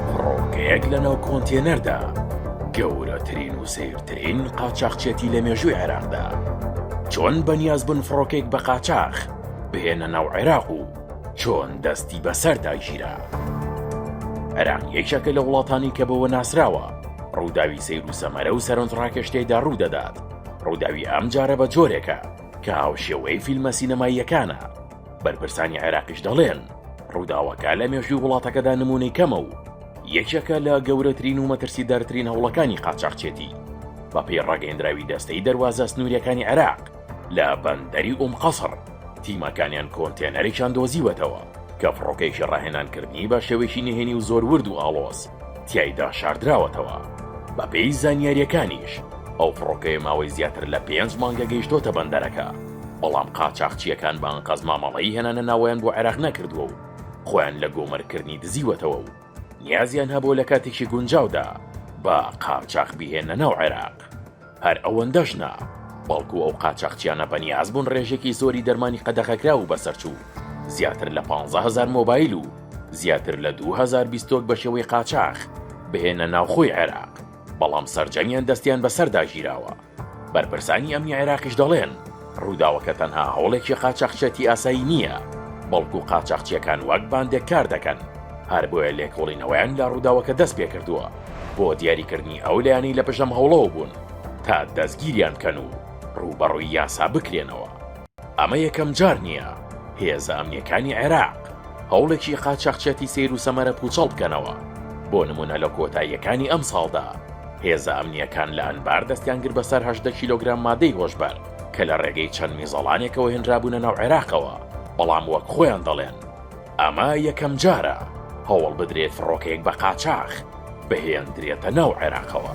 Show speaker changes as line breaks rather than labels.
فڕۆکەیەک لەناو کۆنتێنەردا، گەورەترین و سەیرترین قاچاخچێتی لە مێژووی عێراقدا. چۆن بەنیازبوون فڕۆکەیەک بە قاچاخ بهێنە ناو عێراق و چۆن دەستی بەسەردا گیرا؟ عێراق یەکێکە لە وڵاتانی کە بەوە ناسراوە ڕووداوی سەیر و سەمەرە و سەرنجڕاکێش تێدا ڕوو دەدات، ڕووداوی ئەمجارە بە جۆرێکە کە هاوشێوەی فیلمە سینەماییەکانە، بەرپرسانی عێراقیش دەڵێن ڕووداوەکە لە مێژووی وڵاتەکەدا نمونەی کەمە و یەکێکە لە گەورەترین و مەترسیدارترین هەوڵەکانی قاچاخچێتی بەپی ڕاگەندراوی دەستەی دەواازە سنووریەکانی عێراق لە بەندەری ئوم قەسڕ تیمەکانیان کۆنتێنەرێکیان دۆزیوەتەوە کە فڕۆکەیشی ڕاهێنانکردنی بە شێوەیەکی نهێنی و زۆر ورد و ئاڵۆز تیایدا شاردراوەتەوە. بەپێی زانیارییەکانیش، ئەو فڕۆکەیە ماوەی زیاتر لە پێنج مانگە گەیشتۆتە بەندەرەکە، بەڵام قاچاخچییەکان بە ئەنقەست مامەڵەی هێنانە ناوەیان بۆ عێراق نەکردووە و خۆیان لە گۆمرککردنی دزیوەتەوە و نیازیان هەبووە لە کاتێکی گونجاودا بە قاچاخ بیهێننە ناو عێراق. هەر ئەوەندەش نا، بەڵکو ئەو قاچاخچیانە بەنیاز بوون ڕێژێکی زۆری دەرمانی قەدەغەکراو و بەسەرچوو، زیاتر لە پانزە هەزار مۆبایل و زیاتر لە دوو هەزار بیستۆک بە شێوەی قاچاخ بهێننە ناوخۆی عێراق، بەڵام سەرجەمیان دەستیان بەسەردا گیراوە. بەرپرسانی ئەمنی عێراقیش دەڵێن، ڕووداوەکە تەنها هەوڵێکی قاچاخچێتی ئاسایی نییە، بەڵکو قاچاخچیەکان وەک باندێک کار دەکەن، هەر بۆیە لێکۆڵینەوەیان لە ڕووداوەکە دەست پێکردووە بۆ دیاریکردنی ئەو لایەنەی لە پشتم هەوڵەوە بوون تا دەستگیریان بکەن و ڕووبەڕووی یاسا بکرێنەوە. ئەمە یەکەم جار نییە هێزە ئەمنییەکانی عێراق هەوڵێکی قاچاخچێتی سەیر و سەمەرە پووچەڵ بکەنەوە، بۆ نموونە لە کۆتاییەکانی ئەمساڵدا، هێزە ئەمنییەکان لە ئەنبار دەستیانگرت بەسەر هەژدە کیلۆگرام مادەی هۆشبەر کە لە ڕێگەی چەند میزەڵانێکەوە هێنرابوونە ناو عێراقەوە، بەڵام وەک خۆیان دەڵێن ئەمە یەکەمجارە هەوڵ بدرێت فڕۆکەیەک بە قاچاخ بهێندرێتە ناو عێراقەوە.